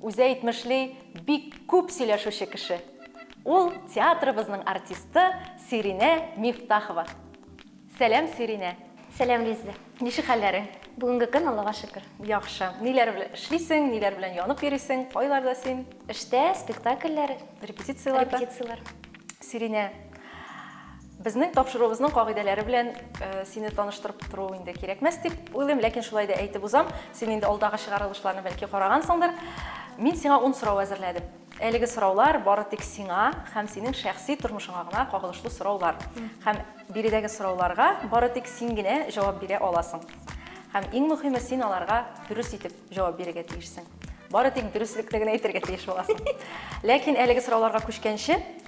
Үзе әйтмешли, бик күп сөйләшүче кеше. Ул, театрыбызның артисты Сиринә Мифтахова. Сәлам, Сиринә! Сәлам, Лизза! Ничек хәлләрең? Бүгенге көн, Аллага шөкер. Яхшы. Ниләр белән эшлисең, ниләр белән янып йөрисең, кайларда син? Эштә, спектакльләр. Репетицияләрдә. Репетицияләр. Сиринә, Безнең тапшыруыбызның кагыйдәләре белән сине таныштырып тору инде кирәкмәс дип уйлыйм, ләкин шулай да әйтеп узам. Син инде алдагы чыгарылышларны бәлки карагансыңдыр. Мин сиңа ун сорау әзерләдем. Әлеге сораулар бары тик сиңа һәм синең шәхси тормышыңа гына кагылышлы сораулар. Һәм биредәге сорауларга бары тик син генә җавап бирә аласың. Һәм иң мөхиме, син аларга дөрес итеп җавап бирергә тиешсең. Бары тик дөреслекне генә әйтергә тиеш буласың. Ләкин әлеге сорауларга күчкәнче,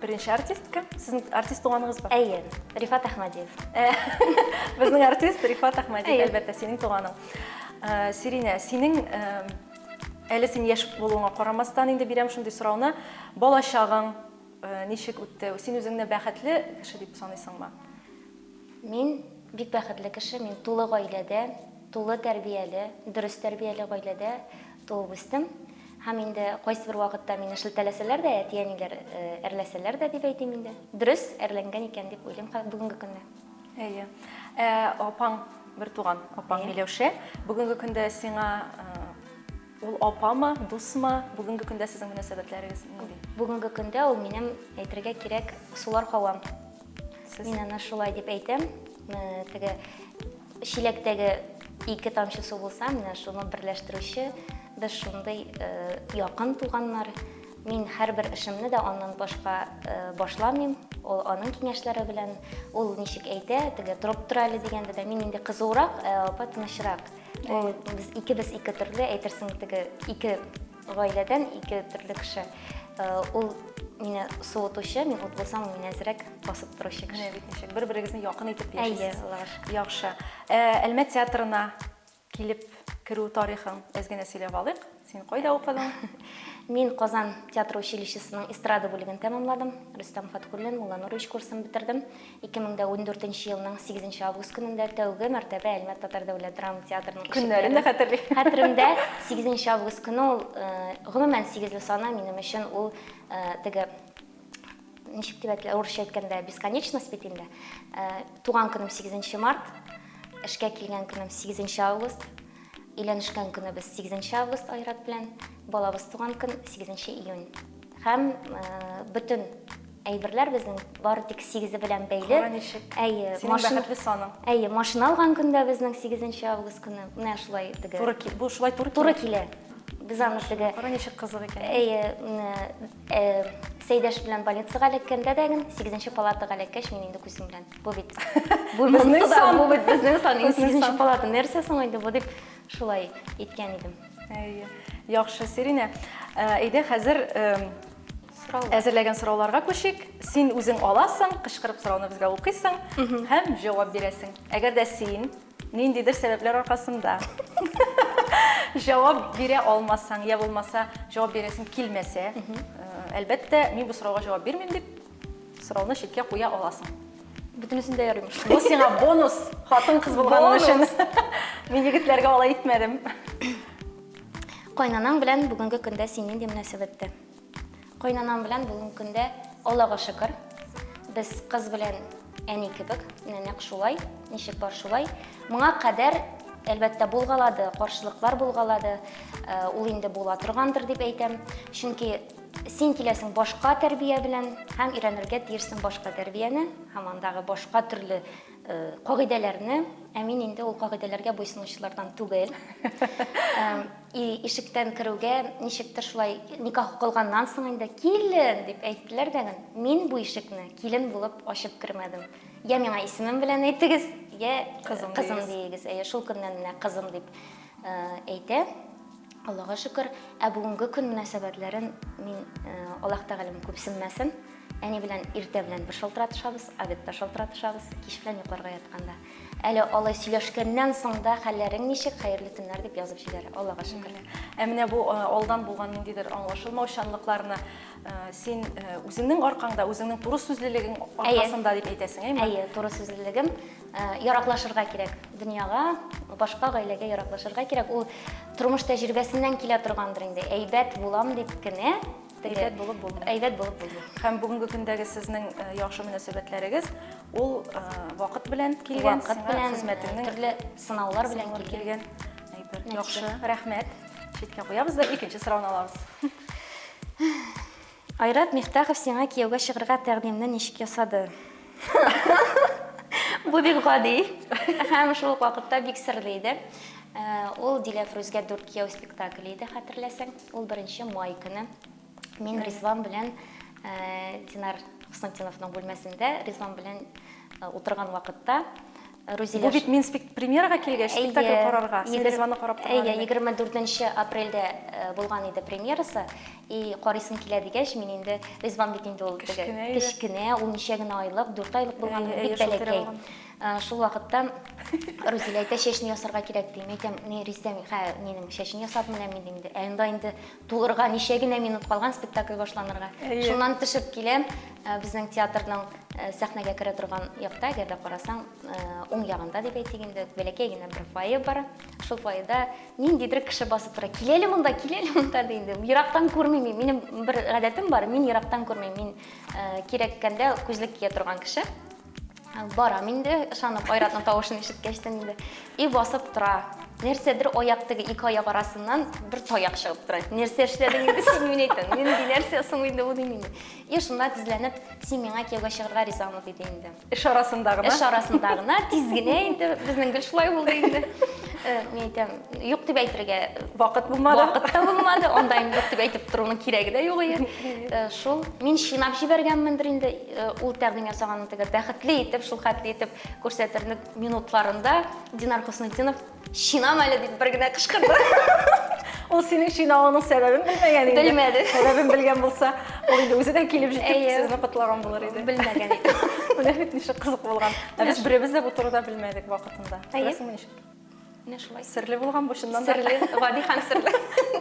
Беренче артист кем? Сезнең артист туганыгыз бар? Әйе, Рифат Әхмәдиев. Э, безнең артист Рифат Әхмәдиев, әлбәттә, синең туганың. Э, Сиринә, синең э, әле син яшь булуыңа карамастан инде бирәм шундый сорауны, балачагың ничек үтте? Син үзеңне бәхетле кеше дип саныйсыңмы? Мин бик бәхетле кеше, мин тулы гаиләдә, тулы тәрбияле, дөрес тәрбияле гаиләдә Туып үстем. Һәм инде кайсыбер вакытта мине шелтәләсәләр дә, әти-әниләр әрләсәләр дә, дип әйтим инде. Дөрес, әрләнгән икән дип уйлыйм бүгенге көндә. Әйе. Ә апаң, бертуган апаң Миләүшә, бүгенге көндә сиңа Ул апамы, дусмы? Бүгенге көндә сезнең мөнәсәбәтләрегез нинди? Бүгенге көндә ул минем әйтергә кирәк сулар хавам. Мин аны шулай дип әйтәм. Теге Чиләктәге ике тамчы су булса, менә шуны берләштерүче без шундый э, якын туганнар. Мин һәрбер эшемне дә аннан башка э, башламыйм. Ул аның киңәшләре белән, ул ничек әйтә, теге торып тора әле дигәндә дә мин инде кызурак, ә апа тынычрак. Ул без икебез ике төрле, әйтерсең теге ике Гаиләдән ике төрле кеше. Ул мине суытучы, мин ут булсам, ул мине әзрәк басып торучы кеше. Менә бит ничек, бер-берегезне якын итеп яшисез. Әйе, Аллага шөкер. Яхшы. Әлмә театрына килеп керү тарихын әзгенә сөйләп алыйк. Син кайда укыдың? Мин Казан театр училищесының эстрада бүлеген тәмамладым. Рөстәм Фаткуллин, Мулланурович курсын бетердем. 2014 нче елның 8 нче август көнендә тәүге мәртәбә Әлмәт татар дәүләт драма театрының Көннәрен дә хәтерли. Хәтеремдә 8 нче август көне ул, гомумән, сигезле саны минем өчен ул теге, ничек дип әйтелә, урысча әйткәндә, бесконечность бит инде. Туган көнем 8 нче март, эшкә килгән көнем 8 нче август, өйләнешкән көнебез 8 нче август Айрат белән, балабыз туган көн 8 нче июнь. Һәм бөтен әйберләр безнең бары тик сигезе белән бәйле. Кара ничек? Әйе. Синең машина... бәхетле саның. Әйе, машина алган көндә безнең 8 август көне менә шулай теге. Туры килә. Бу шулай туры килә. Туры килә. Без аны теге. Кара ничек кызык икән. Әйе, э, Сәйдәш белән больницага эләккәндә дә гин 8 палатага эләккәч, мин инде күзем белән. Бу бит. Бу безнең сан. Бу бит безнең сан. 8 палата нәрсә соң инде бу дип шулай иткән идем. Әйе. Яхшы, Сиринә. Әйдә, хәзер әзерләгән сорауларга күчик. Син үзең аласың, кычкырып сорауны безгә укыйсың һәм җавап бирәсең. Әгәр дә син ниндидер сәбәпләр аркасында җавап бирә алмасаң, я булмаса җавап бирәсең килмәсә, әлбәттә, мин бу сорауга җавап бирмим дип Сорауны читкә куя аласың. Бөтенесен дә ярыймыш. Бу сиңа бонус, хатын кыз булганың өчен. Мин егетләргә алай итмәдем. Кайнанаң белән бүгенге көндә син нинди мөнәсәбәттә? Кайнанам белән бүгенге көндә Аллага шөкер. Без кыз белән әни кебек, менә нәкъ шулай, ничек бар шулай. Моңа кадәр әлбәттә булгалады, каршылыклар булгалады. Э, ул инде була торгандыр дип әйтәм. Чөнки Син киләсең башка тәрбия белән һәм өйрәнергә тиешсең башка тәрбияне һәм андагы башка төрле э, кагыйдәләрне. Ә мин инде ул кагыйдәләргә буйсынучылардан түгел. Ишектән керүгә, ничектер шулай никах укылганнан соң инде килен дип әйттеләр дә, мин бу ишекне килен булып ачып кермәдем. Я миңа исемем белән әйтегез, я кызым, кызым диегез. Әйе, шул көннән менә кызым дип э, әйтә. Аллага шөкер, ә бүгенге көн мөнәсәбәтләрен мин Аллаһ Тәгаләм күпсенмәсен. Әни белән иртә белән бер шалтыратышабыз, обедта шалтыратышабыз, кич белән йокларга ятканда. Әле алай сөйләшкәннән соң да хәлләрең ничек, хәерле төннәр дип язып җибәрә. Аллага шөкер. Ә менә бу алдан булган ниндидер аңлашылмаучанлыкларны син үзеңнең аркаңда, үзеңнең туры сүзлелегең аркасында дип әйтәсең, әйме? Әйе, туры сүзлелегем. Э, яраклашырга кирәк дөньяга башка гаиләгә яраклашырга кирәк ул тормыш тәҗрибәсеннән килә торгандыр инде әйбәт булам дип кенә әйбәт булып булмый әйбәт булып булмый һәм бүгенге көндәге сезнең э, яхшы мөнәсәбәтләрегез ул э, вакыт белән килгән вакыт белән хезмәтеңнең төрле сынаулар белән килгән әйбәт яхшы рәхмәт читкә куябыз да икенче сорауны алабыз Айрат Мифтахов сиңа кияүгә чыгырга тәкъдимне ничек ясады? Бу бик гади һәм шул ук вакытта бик серле иде. Ул Диләфрүзгә дүрт кияү спектакле иде, хәтерләсәң. Ул беренче май көне. Мин Ризван белән Динар Хөснетдиновның бүлмәсендә, Ризван белән утырган вакытта, Рузилә. Бу бит мин спект премьерага килгәч, спектакль Әйе. карарга. Син Егерме- Ризванны карап торган Әйе, идең. 24 нче апрельдә э, булган иде премьерасы. И карыйсым килә дигәч, мин инде Ризван бит инде ул теге Кечкенә иде. кечкенә, ул ничә генә айлык, дүрт айлык булган, Әйе, әйе, бик шул тирә бәләкәй. булган. Э, Шул вакытта Рузилә әйтә, чәчне ясарга кирәк, дим. Әйтәм, ни, Ризә, мин хә, минем чәчне ясап менәм мин, дим инде. Ә анда инде Тулырга ничә генә минут калган спектакль башланырга. Шуннан төшеп киләм, э, безнең театрның э, сәхнәгә керә торган якта, әгәр дә карасаң, э, уң ягында дип әйтик инде, бәләкәй генә бер фойе бар. Шул фойеда ниндидер кеше басып тора. Киләле монда, киләле монда ди инде. Ерактан күрмим. Минем бер гадәтем бар, мин ерактан күрмим. Мин кирәккәндә күзлек кия торган кеше. Барам инде, ышанып, Айратның тавышын ишеткәч тә инде. И басып тора. Нәрсәдер аяк теге ике аяк арасыннан бер таяк чыгып тора. Нәрсә эшләдең инде син мин әйтәм. Мин ди нәрсә соң инде бу дим инде. И шунда тезләнеп, син миңа кияүгә чыгарга ризамы диде инде. Эш арасында гына. Эш арасында гына тиз генә инде безнең гел шулай булды инде. Э, мин әйтәм, юк дип әйтергә вакыт булмады. Вакыт та булмады. Анда инде юк дип әйтеп торуның кирәге дә юк иде. Э, шул мин чинап җибәргәнмендер инде. Ул тәкъдим ясаганын теге бәхетле итеп, шул хәтле итеп күрсәтерне минутларында Динар Хуснутдинов чинам әле дип бер генә кычкырды. Ул синең чинавыңның сәбәбен белмәгән инде. Белмәде. Сәбәбен белгән булса, ул инде үзе дә килеп җитеп сезне котлаган булыр иде. Белмәгән иде. Менә бит ничек кызык булган. Ә без беребез дә бу турыда белмәдек вакытында. Күрәсеңме ничек? Менә шулай. Серле булган бу чыннан да. Серле, гади һәм серле.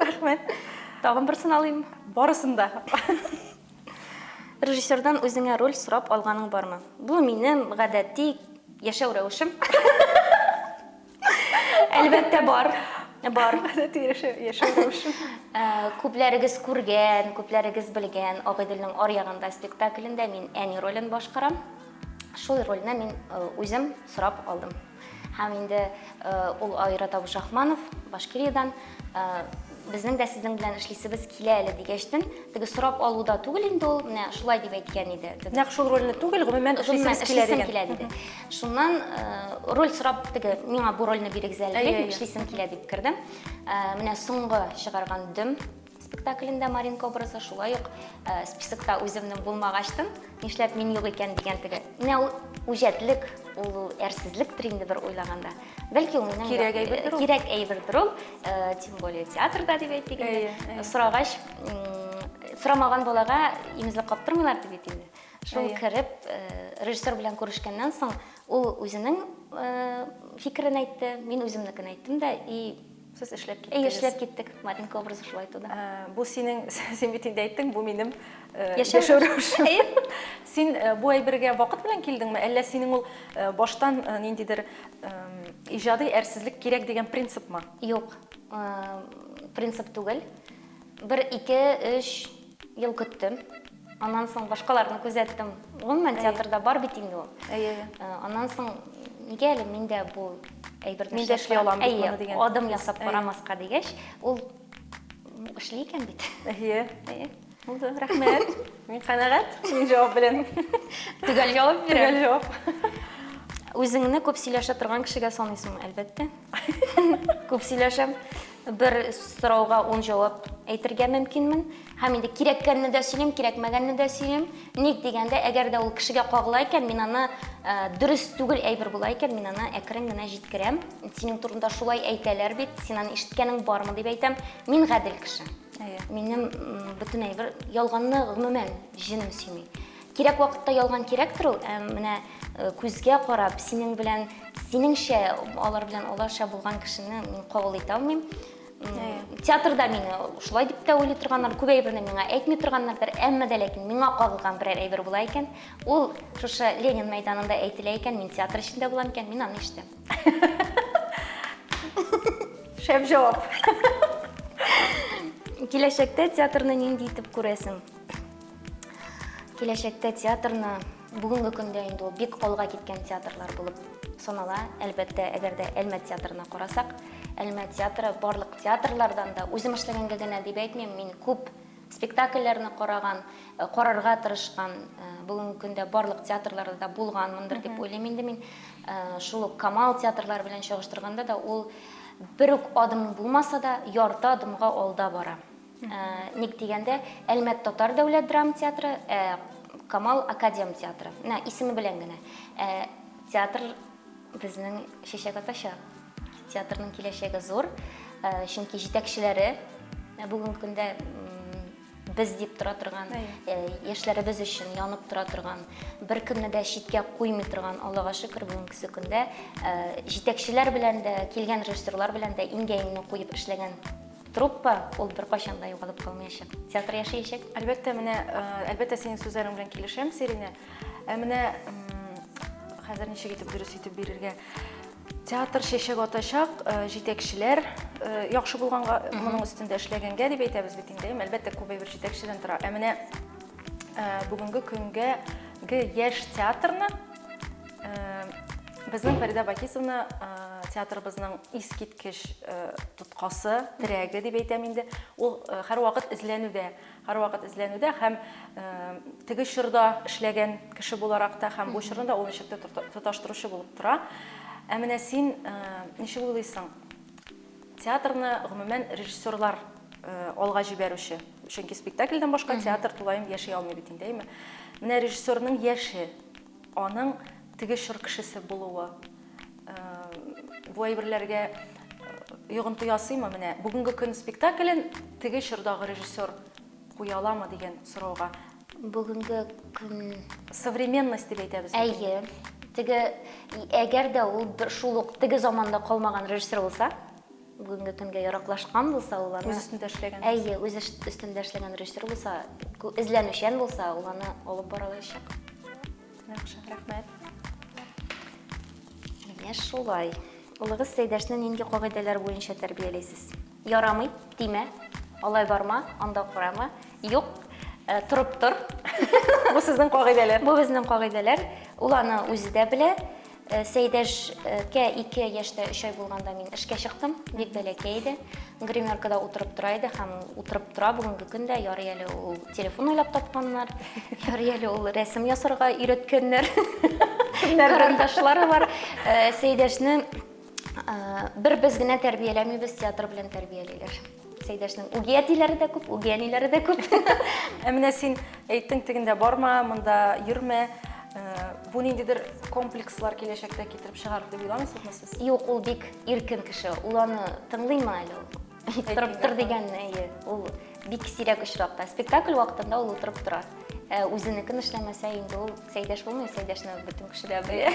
Рәхмәт. Тагын берсен алыйммы? Барысын да. Режиссердан үзеңә роль сорап алганың бармы? Бу минем гадәти яшәү рәвешем. Әлбәттә бар. Бар. Гадәти яшәү рәвешем. Э, күпләрегез күргән, күпләрегез белгән Агыйделнең ар ягында спектаклендә мин әни ролен башкарам. Шул рольне мин э, үзем сорап алдым. Һәм инде ул Айра Табыш Ахманов, Башкириядән, безнең дә сезнең белән эшлисебез килә әле дигәчтен, теге сорап алуда түгел инде ул, менә шулай дип әйткән иде. Нәкъ шул рольне түгел, гомумән эшлисебез килә дигән. килә диде. Шуннан роль сорап теге миңа бу рольне бирегез әле, эшлисем килә дип кердем. Менә соңгы чыгарган дөм Спектаклендә Маринка образы шулай ук э, списокта үземнең булмагачтын, нишләп мин юк икән дигән теге. Менә ул үҗәтлек, ул әрсезлектер инде бер уйлаганда. Бәлки ул минем кирәк әйбердер ул. Кирәк әйбердер ул, э, тем более театрда дип әйтик инде. Сорагач, сорамаган балага имезлек каптырмыйлар дип әйтик инде. Шул кереп, э, режиссер белән күрешкәннән соң, ул үзенең фикерен әйтте, мин үземнекен әйттем дә и Сез эшләп киттегез. Әй, эшләп киттек. Маринка образы шулай туды. Э, бу синең, син бит инде әйттең, бу минем э, яшәү рәвешем. Син э, бу әйбергә вакыт белән килдеңме, әллә синең ул баштан ниндидер иҗади әрсезлек кирәк дигән принципмы? Юк, принцип түгел. Бер, ике, өч, Ел көттем. Аннан соң башкаларны күзәттем. Гомумән, театрда бар бит инде ул. Әйе. Аннан соң, нигә әле мин дә бу әйберне эшли алмыйм? Мин дә эшли алам бит моны дигән. Әйе, адым ясап карамаска дигәч, ул эшли икән бит. Әйе. Булды, рәхмәт. Мин канәгать синең җавап белән. Төгәл җавап бирәм. Төгәл җавап. Үзеңне күп сөйләшә торган кешегә саныйсың, әлбәттә. Күп сөйләшәм. Бер сорауга ун җавап әйтергә мөмкинмен. Һәм инде кирәккәнне дә сөйлим, кирәкмәгәнне дә сөйлим. Ник дигәндә, әгәр дә ул кешегә кагыла икән, мин аны э, дөрес түгел әйбер була икән, мин аны әкрен генә җиткерәм. Синең турында шулай әйтәләр бит, син аны ишеткәнең бармы дип әйтәм. Мин гадел кеше. Әйе. Минем бөтен әйбер ялганны гомумән җенем сөйми. Кирәк вакытта ялган кирәктер ул, ә менә э, күзгә карап, синең белән, синеңчә алар белән аларча булган кешене мин кабул итә алмыйм. Театрда мине шулай дип тә уйлый торганнар, күп әйберне миңа әйтми торганнардыр, әмма дә ләкин миңа кагылган берәр әйбер була икән, ул шушы Ленин мәйданында әйтелә икән, мин театр эчендә булам икән, мин аны ишетәм. Шәп җавап. Киләчәктә театрны нинди итеп күрәсең? Киләчәктә театрны бүгенге көндә инде ул бик алга киткән театрлар булып санала. Әлбәттә, әгәр дә Әлмә театрына карасак, Әлмә театры барлык театрлардан да үзем эшләгәнгә генә дип әйтмим, мин күп спектакльләрне караган, э, карарга тырышкан, э, бүгенге көндә барлык театрларда да булганмындыр дип уйлыйм инде мин. Э, шул ук Камал театрлары белән чагыштырганда да ул бер үк адым булмаса да, ярты адымга алда бара. Ә, ник дигәндә, Әлмәт татар дәүләт драм театры, ә, Камал академ театры. Менә исеме белән генә. Ә, театр безнең чәчәк атача. Театрның киләчәге зур, ә, чөнки җитәкчеләре ә, бүгенге көндә без дип тора торган, ә, яшьләребез өчен янып тора торган, бер көнне дә читкә куймый торган, Аллага шөкер, бүгенге көндә ә, җитәкчеләр белән дә, килгән режиссерлар белән дә иңгә-иңне куеп эшләгән Труппа ул беркайчан да югалып калмаячак. Театр яшәячәк. Әлбәттә, менә э, әлбәттә синең сүзләрең белән килешәм, Сиринә. Ә менә хәзер ничек итеп дөрес итеп бирергә? Театр чәчәк атачак, э, җитәкчеләр э, яхшы булганга, моның өстендә эшләгәнгә дип әйтәбез бит инде. Әлбәттә, күбе бер җитәкчедән тора. Ә менә бүгенге көнгә яшь театрны Безнең Фәридә Бакисовна театрыбызның искиткеч тоткасы, терәге дип әйтәм инде. Ул һәрвакыт эзләнүдә, һәрвакыт эзләнүдә һәм теге чорда эшләгән кеше буларак та һәм бу чорны да ул ничек тә тоташтыручы булып тора. Ә менә син ничек уйлыйсың? Театрны гомумән режиссерлар алга җибәрүче. Чөнки спектакльдән башка театр тулаем яши алмый бит инде, әйме? Менә режиссерның яше Аның теге чор кешесе булуы, бу әйберләргә йогынты ясыймы? Менә бүгенге көн спектаклен теге чордагы режиссер куя аламы дигән сорауга. Бүгенге көн. Современность дип әйтәбез. Әйе. Теге, әгәр дә ул шул ук теге заманда калмаган режиссер булса. бүгенге көнгә яраклашкан булса, ул аны үз өстендә эшләгән. Әйе, үз өстендә эшләгән режиссер булса, эзләнүчән булса, ул аны алып бара алачак. Яхшы, рәхмәт. Менә шулай. Улыгыз Сәйдәшне нинди кагыйдәләр буенча тәрбияләйсез? Ярамый, тимә, алай барма, анда карама, юк, э, торып тор. Бу сезнең кагыйдәләр. Бу безнең кагыйдәләр. Ул аны үзе дә белә. Э, Сәйдәш э, кә ике яшьтә өч ай булганда мин эшкә чыктым, бик бәләкәй иде. Гримеркада утырып тора иде һәм утырып тора бүгенге көндә ярый әле ул телефон уйлап тапканнар, ярый әле ул рәсем ясарга өйрәткәннәр. Карандашлары бар. Э, Сәйдәшне бер без генә тәрбияләмибез, театр белән тәрбиялиләр. Сәйдәшнең үги әтиләре дә күп, үги әниләре дә күп. Ә менә син әйттең тегендә барма, монда йөрмә. Э, бу ниндидер комплекслар киләчәктә китереп чыгар дип уйламыйсызмы сез? Юк, ул бик иркен кеше. Ул аны тыңлыймы әле ул? Торып тор дигәнне, әйе. Ул бик сирәк очракта. Спектакль вакытында ул утырып тора. Ә үзенекен эшләмәсә, инде ул сәйдәш булмый, сәйдәшне бөтен кешеләр белә.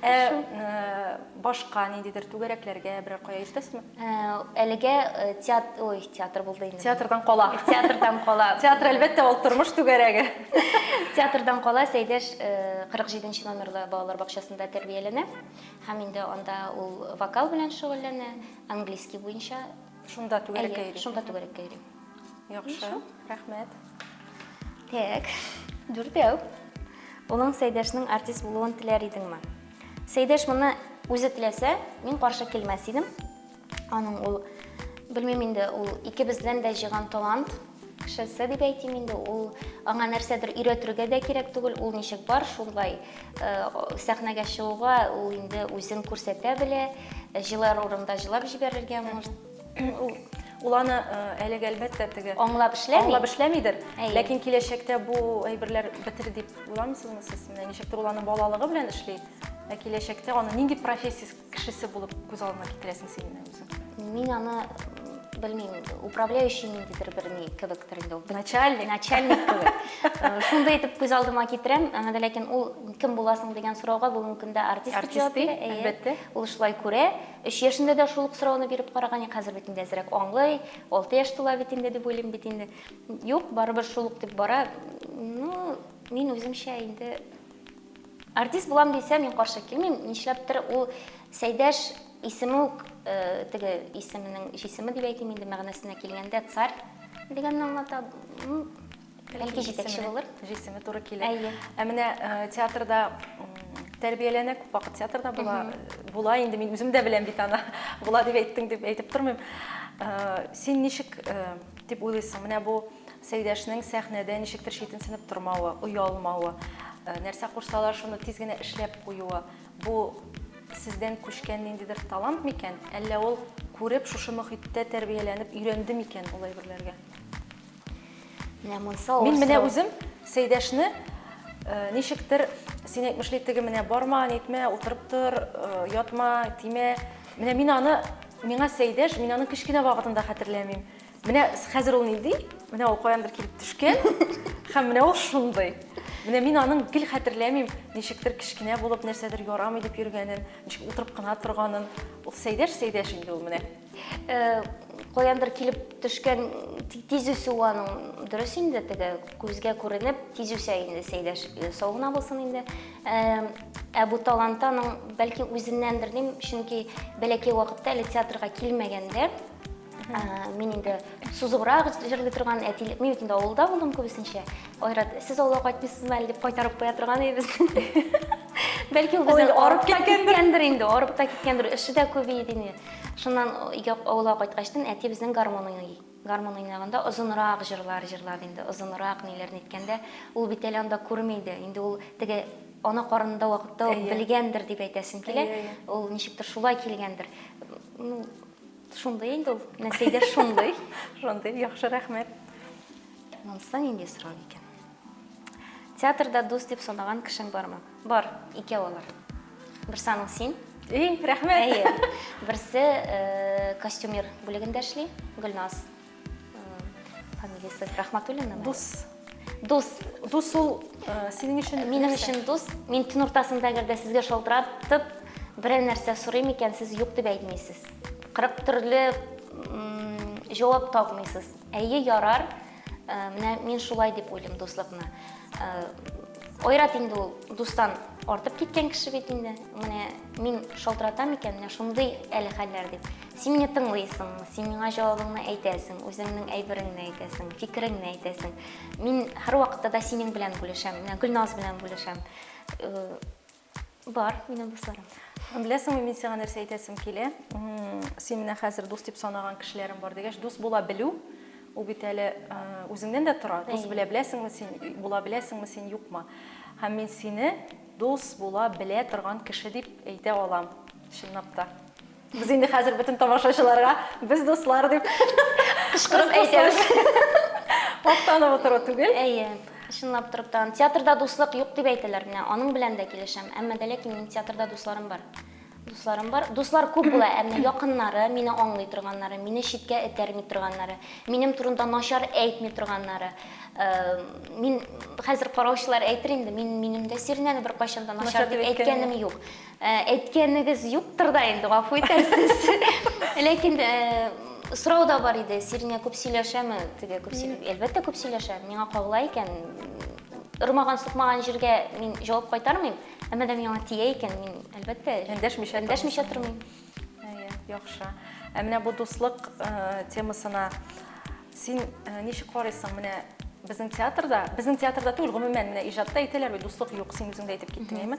Ә э, башка ниндидер түгәрәкләргә берәр кая йөртәсезме? Ә, Әлегә э, театр, ой, театр булды инде. Театрдан кала. Театрдан кала. Театр, әлбәттә, ул тормыш түгәрәге. Театрдан кала Сәйдәш э, 47 нче номерлы балалар бакчасында тәрбияләнә. Һәм инде анда ул вокал белән шөгыльләнә, английский буенча. Шунда түгәрәккә йөри. Шунда түгәрәккә йөри. Яхшы, рәхмәт. Так, дүртәү. Улың Сәйдәшнең артист булуын теләр идеңме? Сәйдәш моны үзе теләсә, мин каршы килмәс идем. Аның ул, белмим инде, ул икебездән дә җыган талант кешесе дип әйтим инде, ул аңа нәрсәдер өйрәтергә дә кирәк түгел, ул ничек бар, шулай э, сәхнәгә чыгуга ул инде үзен күрсәтә белә, җылар урында җылап җибәрергә может. Ул ул аны э, әлеге әлбәттә теге аңлап эшләми аңлап эшләмидер Әйе. ләкин киләчәктә бу әйберләр бетер дип уйламыйсызмы сез менә ничектер ул аны балалыгы белән эшли ә киләчәктә аны нинди профессия кешесе булып күз алдына китерәсең син мине үзең? Мин аны белмим, управляющий ниндидер бер ни кебектер инде ул. Начальник. Начальник кебек. Э, шундый итеп күз алдыма китерәм, әмма ләкин ул кем буласың дигән сорауга бүгенге көндә артист дип җавап бирә. Әлбәттә. Ул шулай күрә. 3 яшендә дә шул ук сорауны биреп караган, хәзер бит инде әзрәк аңлый. 6 яшь тула бит инде дип уйлыйм бит инде. Юк, барыбер шул ук дип бара. Ну, мин үземчә инде Артист булам дисә, мин каршы килмим. Нишләптер ул Сәйдәш исеме үк, теге исеменең җисеме дип әйтим инде, мәгънәсенә килгәндә, царь дигәнне аңлата. Бәлки җитәкче булыр. Җисеме туры килер. Әйе. Ә менә театрда тәрбияләнә, күп вакыт театрда була. Була инде, мин үзем дә беләм бит аны. Була дип әйттең дип әйтеп тормыйм. Син ничек дип уйлыйсың, менә бу Сәйдәшнең сәхнәдә ничектер читенсенеп тормавы, оялмавы, нәрсә кушсалар, шуны тиз генә эшләп куюы, бу сездән күчкән ниндидер талант микән, әллә ул күреп, шушы мохиттә тәрбияләнеп өйрәнде микән ул әйберләргә? Менә монысы авыр сорау. Мин менә үзем Сәйдәшне ничектер, син әйтмешли теге менә барма, нитмә, утырып тор, ятма, тимә. Менә мин аны, миңа Сәйдәш, мин аның кечкенә вакытын да хәтерләмим. Менә хәзер ул нинди? Менә ул каяндыр килеп төшкән. Һәм менә ул шундый. Менә мин аның гел хәтерләмим, ничектер кечкенә булып нәрсәдер ярамый дип йөргәнен, ничек утырып кына торганын. Ул сәйдәш, сәйдәш инде ул менә. Э, каяндыр килеп төшкән тиз үсү аның дөрес инде теге күзгә күренеп тиз үсә инде сәйдәш э, сау гына булсын инде э, ә бу талант аның бәлки үзеннәндер дим чөнки бәләкәй вакытта әле театрга килмәгәндә Мин инде сузыбрак җырлый торган әти, мин бит инде авылда булдым күбесенчә. Айрат, сез авылга кайтмыйсызмы әле дип кайтарып куя торган иде Бәлки ул бездән арып та киткәндер инде, арып та киткәндер, эше дә күп иде инде. Шуннан өйгә авылга кайткачтан әти безнең гармон уйный. Гармон уйнаганда озынрак җырлар җырлады инде, озынрак ниләр ниткәндә, ул бит әле анда күрми иде. Инде ул теге ана карынында вакытта ук белгәндер дип әйтәсем килә. Ул ничектер шулай килгәндер. Шундый инде ул. Нәсәйдә шундый. Шундый, яхшы рәхмәт. Монысы нинди сорау икән? Театрда дус дип санаган кешең бармы? Бар, икәү алар. Бер саның син. Эй, рәхмәт. Әйе. Берсе э, костюмер бүлегендә эшли, Гөлназ. Фамилиясе Рахматуллина. Дус. Дус. Дус ул э, синең өчен минем өчен дус. Мин төн уртасында гәрдә сезгә шалтыратып, берәр нәрсә сорыйм икән, сез юк дип әйтмисез. 40 төрле җавап тапмыйсыз. Әйе, ярар. Э, менә мин шулай дип уйлыйм дуслыкны. Э, Айрат инде ул дустан артып киткән кеше бит инде. Менә мин шалтыратам икән, менә шундый әле хәлләр дип. Син мине тыңлыйсыңмы? Син миңа җавабыңны әйтәсең, үзеңнең әйбереңне әйтәсең, фикереңне әйтәсең. Мин һәрвакытта да синең белән бүлешәм, менә Гөлназ белән бүлешәм. Э, бар минем дусларым. Беләсеңме, мин сиңа нәрсә әйтәсем килә? Син менә хәзер дус дип санаган кешеләрем бар дигәч, дус була белү ул бит әле э, үзеңнән дә тора. Дус белә беләсеңме син, була беләсеңме син, юкмы? Һәм мин сине дус була белә торган кеше дип әйтә алам, чынлап та. Без инде хәзер бөтен тамашачыларга без дуслар дип кычкырып әйтәбез. Мактанып утыру түгел. Әйе. Чынлап торып та, театрда дуслык юк дип әйтәләр. Менә аның белән дә килешәм. Әмма дә ләкин минем театрда дусларым бар. Дусларым бар. Дуслар күп була, әмма якыннары, мине аңлый торганнары, мине читкә этәрми торганнары, минем турында начар әйтми торганнары. Мин хәзер караучылар әйтер инде, мин минем дә Сиринәне беркайчан да начар дип әйткәнем юк. Ә, әйткәнегез юктыр да инде, гафу итәрсез. Ләкин ә, сорау да бар иде, Сиринә күп сөйләшәме? Теге күп сөйләшә. Әлбәттә күп сөйләшә. Миңа кагыла икән, ырмаган сукмаган җиргә мин җавап кайтармыйм. Әмма дә миңа тия икән, мин әлбәттә Эндәшмичә эндәшмичә тормыйм. Әйе, яхшы. Ә менә бу дуслык э, темасына Син э, ничек карыйсың менә безнең театрда, безнең театрда түгел, гомумән менә иҗатта әйтәләр бит, дуслык юк, син үзең дә әйтеп киттең, әйме?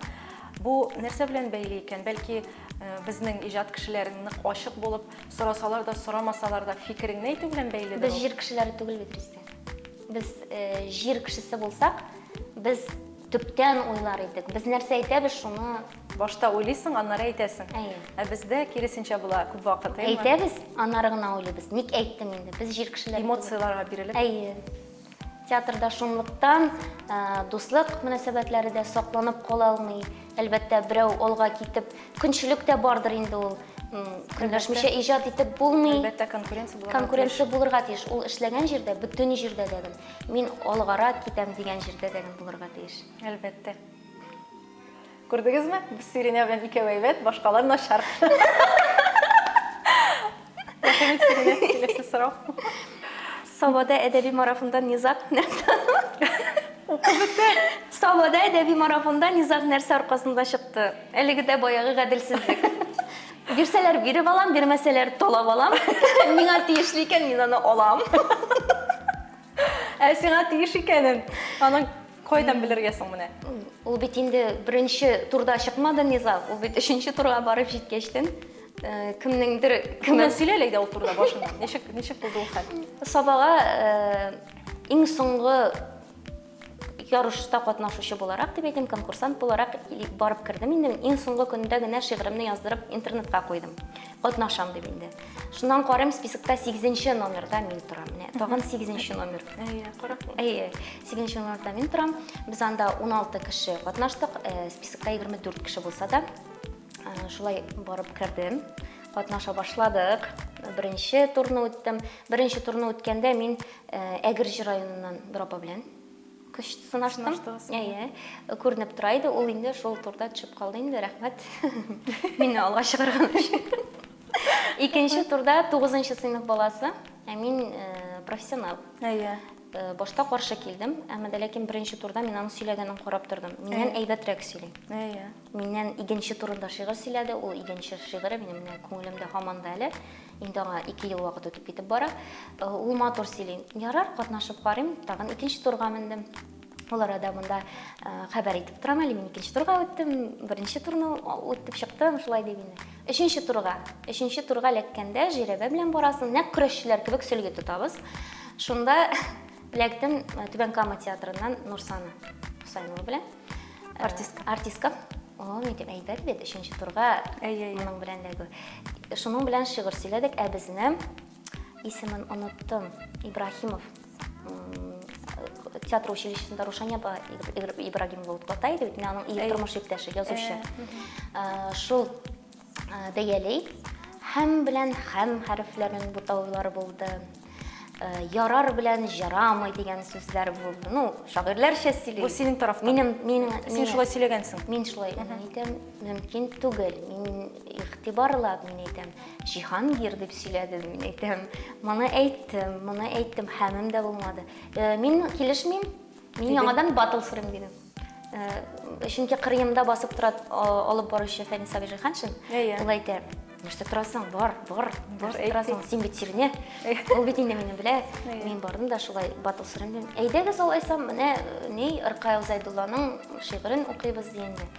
Бу нәрсә белән бәйле икән? Бәлки э, безнең иҗат кешеләре нык ачык булып, сорасалар да, сорамасалар да фикереңне әйтү белән бәйле. Без җир кешеләре түгел бит, Ристә. Без э, җир кешесе булсак, без төптән уйлар идек. Без нәрсә әйтәбез, шуны Башта уйлыйсың, аннары әйтәсең. Әйе. Ә бездә киресенчә була күп вакыт, әйеме? Әйтәбез, аннары гына уйлыйбыз. Ник әйттем инде? Без җир кешеләре. Эмоцияләргә бирелеп. Әйе. Театрда шунлыктан э, дуслык мөнәсәбәтләре дә сакланып кала алмый. Әлбәттә, берәү алга китеп, көнчелек тә бардыр инде ул. Көнләшмичә иҗат итеп булмый. Әлбәттә, конкуренция булырга Конкуренция булырга тиеш. Ул эшләгән җирдә, бөтен җирдә дә Мин алгарак китәм дигән җирдә дә булырга тиеш. Әлбәттә. Күрдегезме? Без Сиринә белән икәү әйбәт, башкалар начар. Рәхмәт Сиринә, киләсе сорау. Сабада әдәби марафонда Низак нәрсә? Укып бетте. Сабада әдәби марафонда Низак нәрсә аркасында чыкты? Әлеге дә баягы гаделсезлек. Бирсәләр биреп алам, бирмәсәләр талап алам. Миңа тиешле икән, мин аны алам. Ә сиңа тиеш икәнен, аның Кайдан белергә соң менә? Ул бит инде беренче турда чыкмады низа, ул бит өченче турга барып җиткәчтен э, кемнеңдер Кемнән сөйлә әле ул турда башында. Ничек ничек булды ул хәл? Сабага э, иң соңгы ярышта катнашучы буларак дип әйтим, конкурсант буларак барып кердем инде. Иң соңгы көндә генә шигыремне яздырып интернетка куйдым. Катнашам дип инде. Шуннан карыйм, списокта 8 номерда мин торам. Менә тагын 8 номер. Әйе, карап. Әйе, 8 номерда мин торам. Без анда 16 кеше катнаштык. Э, списокта 24 кеше булса да, э, шулай барып кердем. Катнаша башладык. Беренче турны үттем. Беренче турны үткәндә мин э, Әгерҗе районыннан бер апа белән Көч сынаштым. Әйе. Күренеп тора иде, ул инде шул турда төшеп калды инде, рәхмәт. Мине алга чыгарган өчен. Икенче турда тугызынчы сыйныф баласы, ә мин профессионал. Әйе. Башта каршы килдем, әмма дә ләкин беренче турда мин аның сөйләгәнен карап тордым. Миннән әйбәтрәк сөйли. Әйе. Миннән игенче турында шигырь сөйләде. Ул игенче шигыре минем менә күңелемдә һаман да әле. Инде аңа ике ел вакыт үтеп китеп бара. Э, ул матур сөйли. Ярар, катнашып карыйм. Тагын икенче турга мендем. Ул арада монда э, хәбәр итеп торам әле, мин икенче турга үттем, беренче турны үтеп чыктым, шулай дип инде. Өченче турга, өченче турга эләккәндә жирәбә белән барасың, нәкъ көрәшчеләр кебек сөлге тотабыз. Шунда эләктем э, Түбән Кама театрыннан Нурсана Хусайнова белән. Артистка. Артистка. О, ни дип әйбәт бит, өченче турга. Әйе, әйе. Моның белән ләгү. Шуның белән шигырь сөйләдек, ә безне исемен оныттым. Ибрахимов театр училищесында Рушаня апа Ибрагимова укыта иде бит, менә аның тормыш иптәше, язучы. Шул Бәяли. Хәм белән хәм хәрефләрен бутаулар булды. Ярар белән ярамый дигән сүзләр булды. Ну, шагыйрьләрчә сөйли. Бу синең тарафтан. Минем, минем, син шулай сөйләгәнсең. Мин шулай әйтәм, мөмкин түгел. Мин игътибарлап мин әйтәм. Җиһангир дип сөйләде, мин әйтәм. Моны әйттем, моны әйттем, хәмем дә булмады. Мин килешмим. Мин яңадан батл сорыйм дидем. Э, чөнки кырыемда басып тора алып баручы Фәнис абый Җиһаншин. Ул әйтә, нәрсә торасың, бар, бар, бар торасың, син бит сирне. Ул бит инде мине белә. Мин бардым да шулай батл сорыйм дидем. Әйдәгез алайсам, менә э, ни Ркайл Зайдулланың шигырен укыйбыз ди инде.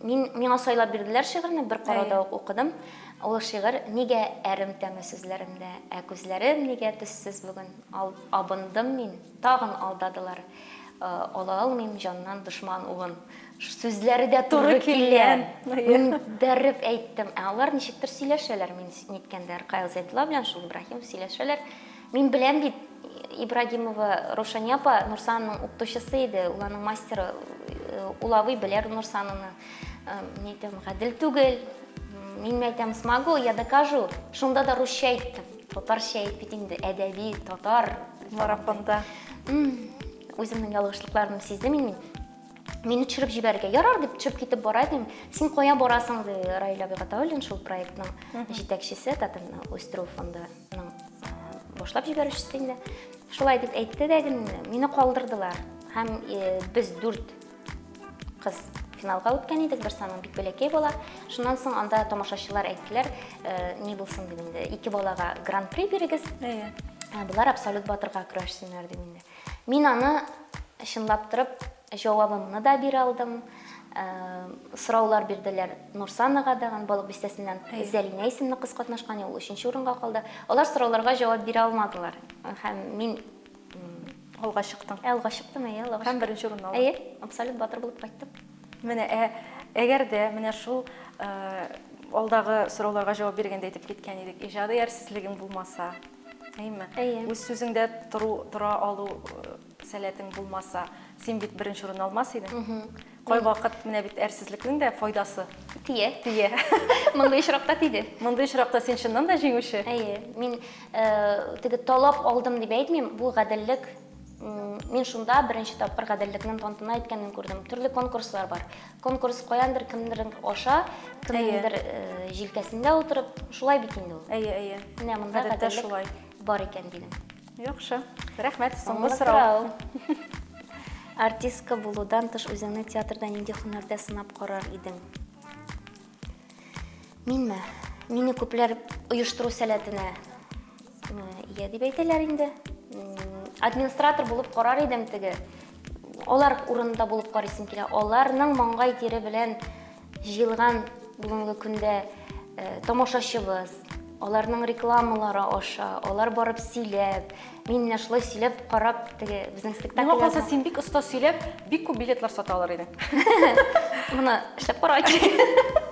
Мин, миңа сайлап бирделәр шигырьне, бер карауда ук укыдым. Ул шигырь Нигә әрем тәме сүзләремдә, ә күзләрем нигә төссез бүген? Ал, абындым мин, тагын алдадылар. Э, ала алмыйм җаннан дошман угын. Сүзләре дә туры килә. Мин бәреп әйттем. Ә алар ничектер сөйләшәләр, мин ниткәндә Ркаил Зәйтулла белән шул Ибраһимов сөйләшәләр. Мин беләм бит, Ибрагимова Рушания апа Нурсанның укытучысы иде, ул аның мастеры. Э, ул абый беләр Нурсаныны. Э, мин әйтәм, гадел түгел. Мин әйтәм, смогу, я докажу. Шунда да русча әйттем. Татарча әйт бит инде, әдәби, татар. Марафонда. Үземнең ялгышлыкларымны сиздем мин. Мине төшереп җибәрергә. Ярар дип төшереп китеп бара идем. Син кая барасың, ди Раил Абигатауллин, шул проектның җитәкчесе, татарны үстерү фондының башлап җибәрүчесе инде. Шулай дип әйтте дә генә, мине калдырдылар. Һәм э, без дүрт кыз финалга үткән идек, бер саның бик бәләкәй бала. Шуннан соң анда тамашачылар әйттеләр, э, ни булсын дип инде, ике балага гран-при бирегез. Әйе. Ә, Болар абсолют батырга көрәшсеннәр дип инде. Мин аны чынлап торып җавабымны да бирә алдым. Э, сораулар бирделәр Нурсанага дагын балык бистәсеннән Зәлинә исемле кыз катнашкан, ул өченче урынга калды. Алар сорауларга җавап бирә алмадылар. Һәм мин алга чыктым. Ә алга чыктым, әйе, алга. Һәм беренче урынны алдым. Әйе, абсолют батыр булып кайттым. Менә ә, әгәр дә менә шул э, алдагы сорауларга җавап биргәндә әйтеп киткән идек, иҗади әрсезлегең булмаса, Әйме? Әйе. Үз сүзеңдә тору, тора алу сәләтең булмаса, син бит беренче урын алмас идең. Кай вакыт менә бит әрсезлекнең дә файдасы тия. Тия. Мондый очракта тиде. Мондый очракта син чыннан да җиңүче. Әйе. Мин теге талап алдым дип әйтмим, бу гаделлек. Мин шунда беренче тапкыр гаделлекнең тантана иткәнен күрдем. Төрле конкурслар бар. Конкурс каяндыр кемдер аша, кемнеңдер җилкәсендә утырып, шулай бит инде ул. Әйе, әйе. Менә монда гадәтлек бар икән дидем. Яхшы. Рәхмәт. Соңгы сорау. Артистка булудан тыш үзеңне театрда нинди һөнәрдә сынап карар идең? Минме? Мине күпләр оештыру сәләтенә Иә дип әйтәләр инде. Администратор булып карар идем теге. Алар урынында булып карыйсым килә. Аларның маңгай тире белән җыелган бүгенге көндә э, тамашачыбыз, аларның рекламалары аша, алар барып сөйләп, мин менә шулай сөйләп карап теге безнең спектакль. Миңа калса син бик оста сөйләп, Бик күп билетлар сата алыр идең. Моны эшләп карар кирәк.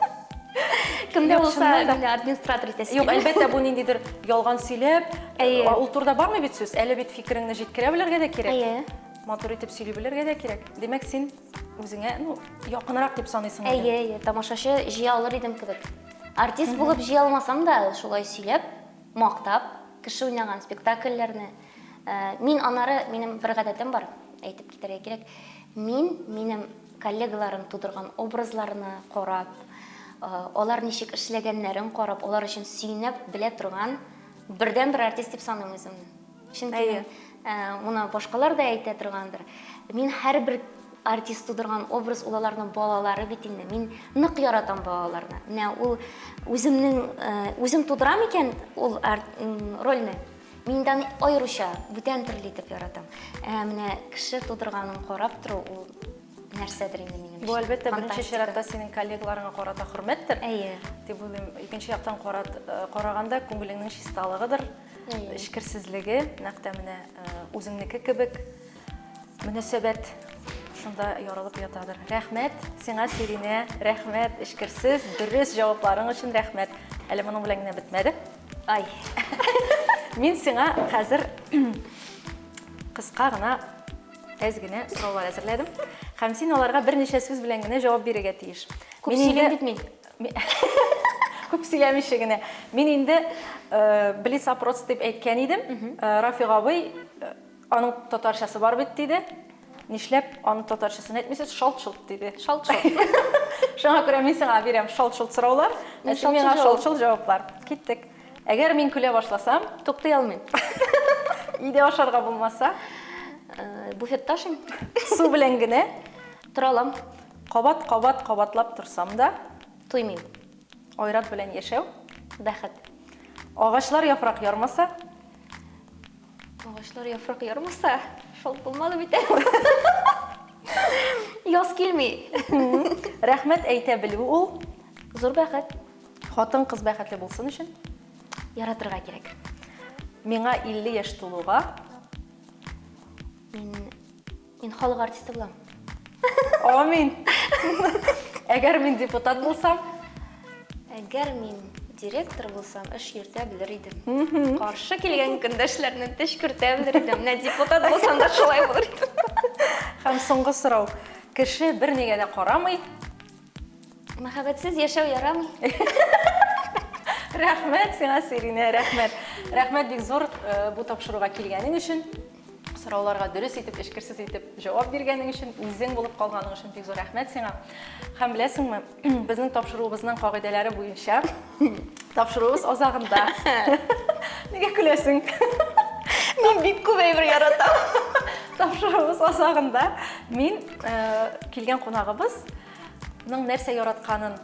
Кемдә булса, администратор итәсе. Юк, әлбәттә, бу ниндидер ялган сөйләп, ул турда бармы бит сүз? Әле бит фикереңне җиткерә белергә дә кирәк. Әйе. Матур итеп сөйли белергә дә кирәк. Димәк, син үзеңә, ну, якынрак дип саныйсың. Әйе, әйе, тамашачы җыя алыр идем кебек. Артист булып җыя алмасам да, шулай сөйләп, мактап, кеше уйнаган спектакльләрне, Ә, мин анары минем бер гадәтем бар, әйтеп китәргә кирәк. Мин минем коллегаларым тудырган образларны карап, алар ничек эшләгәннәрен карап, алар өчен сөенеп белә торган бердән бер артист дип саныйм үземне. Чөнки моны башкалар да әйтә торгандыр. Мин һәрбер артист тудырган образ ул аларның балалары бит инде. Мин нык яратам балаларны. Менә ул үземнең үзем тудырам икән ул рольне. Мин дә аны аеруча бүтән төрле итеп яратам. Ә менә кеше тудырганын карап тору ул нәрсәдер инде минем өчен. Бу әлбәттә беренче чиратта синең коллегаларыңа карата хөрмәттер. Әйе. Дип уйлыйм. Икенче яктан э, караганда күңелеңнең чисталыгыдыр, эчкерсезлеге, нәкъ тә менә э, үзеңнеке кебек мөнәсәбәт шунда ярылып ятадыр. Рәхмәт сиңа, Сиринә, рәхмәт, эчкерсез, дөрес җавапларың өчен рәхмәт. Әле моның белән генә бетмәде. Ай. Мин сиңа хәзер кыска гына әз генә сораулар әзерләдем. Һәм син аларга берничә сүз белән генә җавап бирергә тиеш. Күп сөйлим бит мин. Күп сөйләмичә генә. Мин инде э, блиц опрос дип әйткән идем. Э, Рафик абый э, Аның татарчасы бар бит, диде. Нишләп аны татарчасын әйтмисез? Шалт-шолт диде. Шалт-шолт. Шуңа күрә мин сиңа бирәм шалт-шолт сораулар, ә син миңа шалт-шолт җаваплар. Киттек. Әгәр мин көлә башласам, туктый алмыйм. Өйдә ашарга булмаса, буфетта ашыйм. Су белән генә тора алам. Кабат-кабат кабатлап торсам да, туймыйм. Айрат белән яшәү, бәхет. Агачлар яфрак ярмаса. Агачлар яфрак ярмаса, шул булмады бит. Яз килми. Рәхмәт әйтә белү ул. Зур бәхет. Хатын кыз бәхетле булсын өчен. Яратырга кирәк. Миңа 50 яшь тулуга. Мин Мин халык артисты булам. Амин. Әгәр мин депутат булсам, әгәр мин директор булсам, эш йөртә белер идем. Каршы килгән көндәшләрне теш кертә белер идем. Менә депутат булсам да шулай булыр идем. Һәм соңгы сорау. Кеше бер нигә дә карамый. Мәхәббәтсез яшәү ярамый. Рәхмәт сиңа, Сиринә, рәхмәт. Рәхмәт бик зур э, бу тапшыруга килгәнең өчен. Сорауларга дөрес итеп, эчкерсез итеп җавап биргәнең өчен, үзең булып калганың өчен бик зур рәхмәт сиңа. Һәм беләсеңме, безнең тапшыруыбызның кагыйдәләре буенча тапшыруыбыз азагында. Нигә көләсең? Мин бик күп әйбер яратам. Тапшыруыбыз азагында мин э, килгән кунагыбызның нәрсә яратканын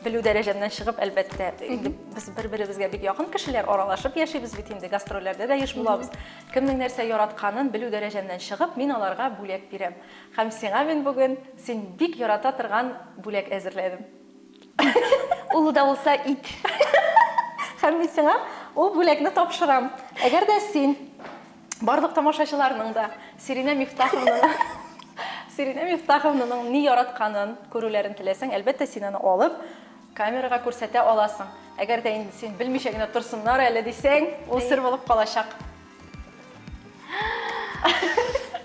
белү дәрәҗәмнән чыгып, әлбәттә, инде без бер-беребезгә бик якын кешеләр, аралашып яшибез бит инде, гастрольләрдә дә еш булабыз. Кемнең нәрсә яратканын белү дәрәҗәмнән чыгып, мин аларга бүләк бирәм. Һәм сиңа мин бүген син бик ярата торган бүләк әзерләдем. Ит! Ул да булса ит! Һәм мин сиңа ул бүләкне тапшырам. Әгәр дә син барлык тамашачыларның да Сиринә Мифтаховнаның Сиринә Мифтаховнаның ни яратканын күрүләрен теләсәң, әлбәттә, син аны алып, Камерага күрсәтә аласың. Әгәр дә инде син белмичә генә торсыннар әле дисәң, ул сер булып калачак.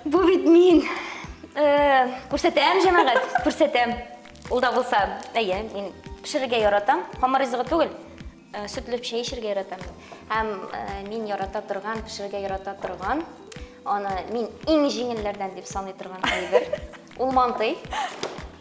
Бу бит мин. Э, күрсәтәм, җәмәгать, күрсәтәм. Ул да булса, әйе, мин пешерергә яратам. Хамар ризыгы түгел. Э, Сөтле чәй эчәргә яратам. Һәм э, мин ярата торган, пешерергә ярата торган, аны мин иң җиңелләрдән дип саный торган әйбер. Ул мантый.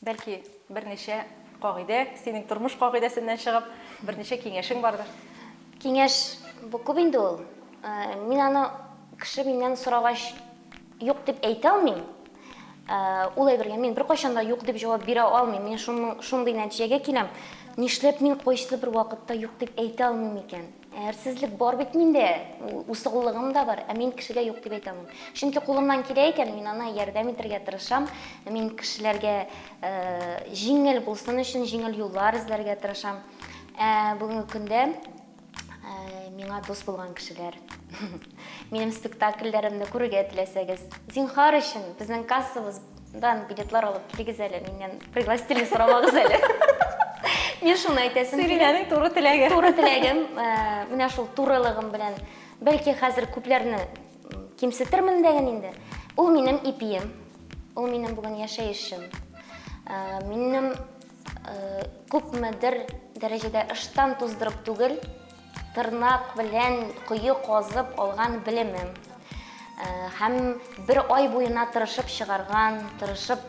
Бәлки, берничә кагыйдә, синең тормыш кагыйдәсеннән чыгып, берничә киңәшең бардыр? Киңәш бу күп инде ул. Мин аны кеше миннән сорагач, юк дип әйтә алмыйм. Ул әйбергә мин беркайчан да юк дип җавап бирә алмыйм. Мин шундый нәтиҗәгә киләм, нишләп мин кайсы бер вакытта юк дип әйтә алмыйм икән? Әрсезлек бар бит миндә, усаллыгым да бар, ә мин кешегә юк дип әйтә алмыйм. Чөнки кулымнан килә икән, мин аны ярдәм итәргә тырышам. Мин кешеләргә э, җиңел булсын өчен җиңел юллар эзләргә тырышам. Ә бүгенге көндә э, миңа дус булган кешеләр. Минем спектакльләремне күрергә теләсәгез, зинхар өчен безнең кассабыз дан билетлар алып килегез әле миннән пригласительный сорамагыз әле мин шуны әйтәсем сиринәнең туры теләге туры теләгем э, менә шул турылыгым белән бәлки хәзер күпләрне кимсетермен дәген инде ул минем ипием ул минем бүген яшәешем э, минем э, күпмедер дәрәҗәдә ыштан туздырып түгел Тырнак белән кое казып алган белемем һәм бер ай буена тырышып чыгарган, тырышып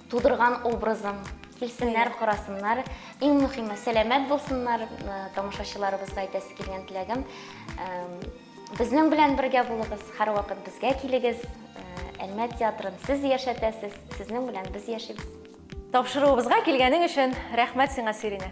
тудырган образым килсеннәр, карасыннар. Иң мөһиме, сәламәт булсыннар. Тамашачыларыбызга әйтәсе килгән теләгем, безнең белән бергә булыгыз, һәрвакыт безгә килегез. Әлмә театрын сез яшәтәсез, сезнең белән без яшибез. Тапшыруыбызга килгәнең өчен рәхмәт сиңа, Сиринә.